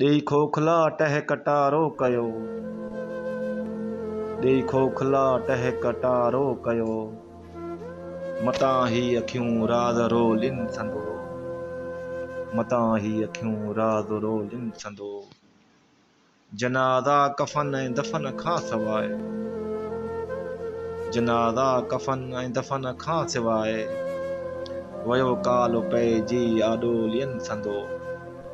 ڏيئي کوکلا ٽهڪٽارو ڪيو. ڏيئي کوکلا ٽهڪٽارو ڪيو. متان هي اکيون راز رو لين سندو. متان هي اکيون راز رو لين سندو. جنازا ڪفن ۽ دفن کان سواء. جنازا ڪفن ۽ دفن کان سواء. ويو ڪال پئجي آڏو لين سندو.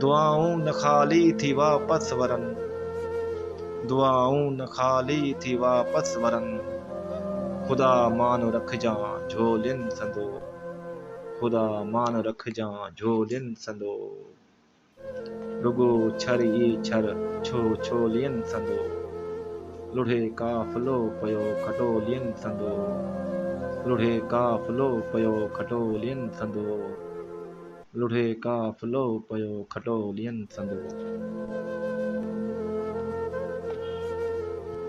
دعائون نه خالي ٿي واپس ورن دعائون نه خالي ٿي واپس ورن خدا مان رکجان جھولين سندو خدا مان رکجان جھولين سندو رڳو ڇر ئي ڇر ڇو ڇولين سندو لڙھي قافلو پيو کٽولين سندو لڙھي قافلو پيو کٽولين سندو. لڙهي قافلو پيو کٽو ڏينهن سندو.